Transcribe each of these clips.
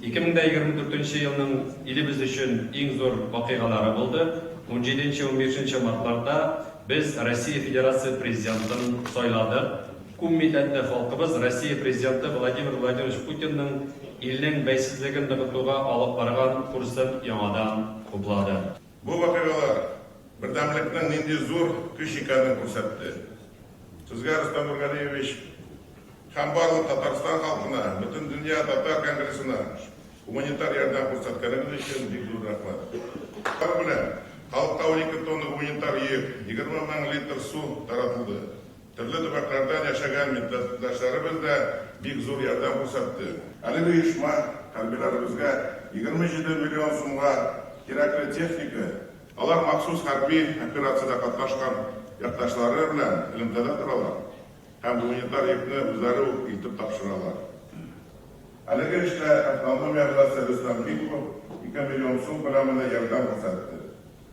Ике мең дә егерме дүртенче елның илебез өчен иң зур вакыйгалары булды. Унҗиденче-унбишенче мартларда без Россия Федерация Президентын сайладык. Күпмилләтле халкыбыз Россия Президенты Владимир Владимирович Путинның илнең бәйсезлеген ныгытуга алып барган курсын яңадан хуплады. Бу вакыйгалар бердәмлекнең нинди зур көч икәнен күрсәтте. Сезгә, Рөстәм Нургалиевич, һәм барлык Татарстан халкына, Бөтендөнья татар конгрессына гуманитар ярдәм күрсәткәнегез өчен бик зур рәхмәт. Алар белән халыкка унике тонна гуманитар йөк, егерме мең литр су таратылды. Төрле төбәкләрдән яшәгән милләттәшләребез дә бик зур ярдәм күрсәтте. Әлеге оешма хәрбиләребезгә егерме җиде миллион сумга кирәкле техника, алар махсус хәрби операциядә катнашкан якташлары белән элемтәдә торалар һәм гуманитар йөкне үзләре үк илтеп тапшыралар. Әлеге эштә автономия власте Рөстәм Митков ике миллион сум күләмендә ярдәм күрсәтте.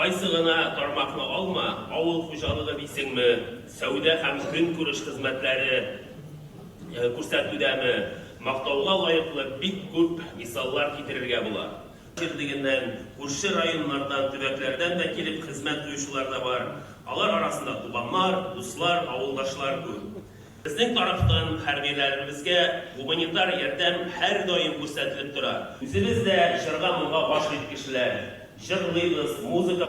Кайсы гына тармакны алма, авыл хуҗалыгы дисеңме, сәүдә һәм көнкүреш хезмәтләре күрсәтүдәме, мактауга лаеклы бик күп мисаллар китерергә була. Җирлегеннән, күрше районнардан, төбәкләрдән дә килеп хезмәт куючылар да бар. Алар арасында туганнар, дуслар, авылдашлар күп. Безнең тарафтан хәрбиләребезгә гуманитар ярдәм һәрдаим күрсәтелеп тора. Үзебез дә җырга-моңга гашыйк кешеләр. Җырлыйбыз, музыка.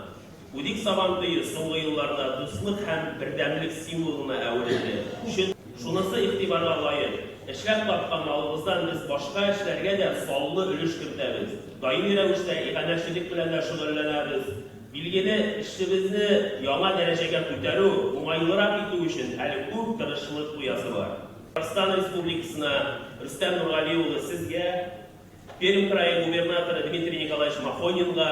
Үдик Сабан туе соңгы елларда дуслык һәм бердәмлек символына әверелде. Чын, шунысы игътибарга лаек, эшләп тапкан малыбыздан без башка эшләргә дә саллы өлеш кертәбез. Даими рәвештә иганәчелек белән дә шөгыльләнәбез. Билгеле, эшебезне яңа дәрәҗәгә күтәрү, уңайлырак итү өчен әле күп тырышлык куясы бар. Татарстан Республикасына, Рөстәм Нургали улы, сезгә, Пермь крае губернаторы Дмитрий Николаевич Махонинга,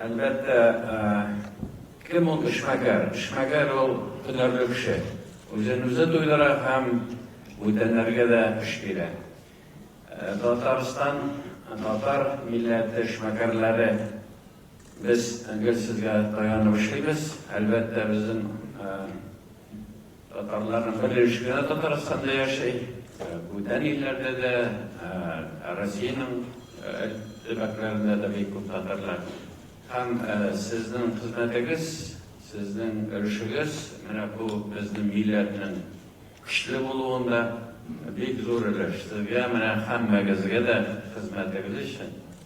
Әлбәттә, кем ул эшмәкәр? Эшмәкәр ул һөнәрле кеше. Үзен үзе туйдыра һәм бүтәннәргә дә эш бирә. Татарстан, татар милләте эшмәкәрләре без гел сезгә таянып эшлибез. Әлбәттә, безнең Татарларның бер өлеше генә Татарстанда яши. Бүтән илләрдә дә, Россиянең төбәкләрендә дә бик күп татарлар. Һәм сезнең хезмәтегез, сезнең өлешегез менә бу безнең милләтнең көчле булуында бик зур өлеш. Сезгә менә һәммәгезгә дә хезмәтегез өчен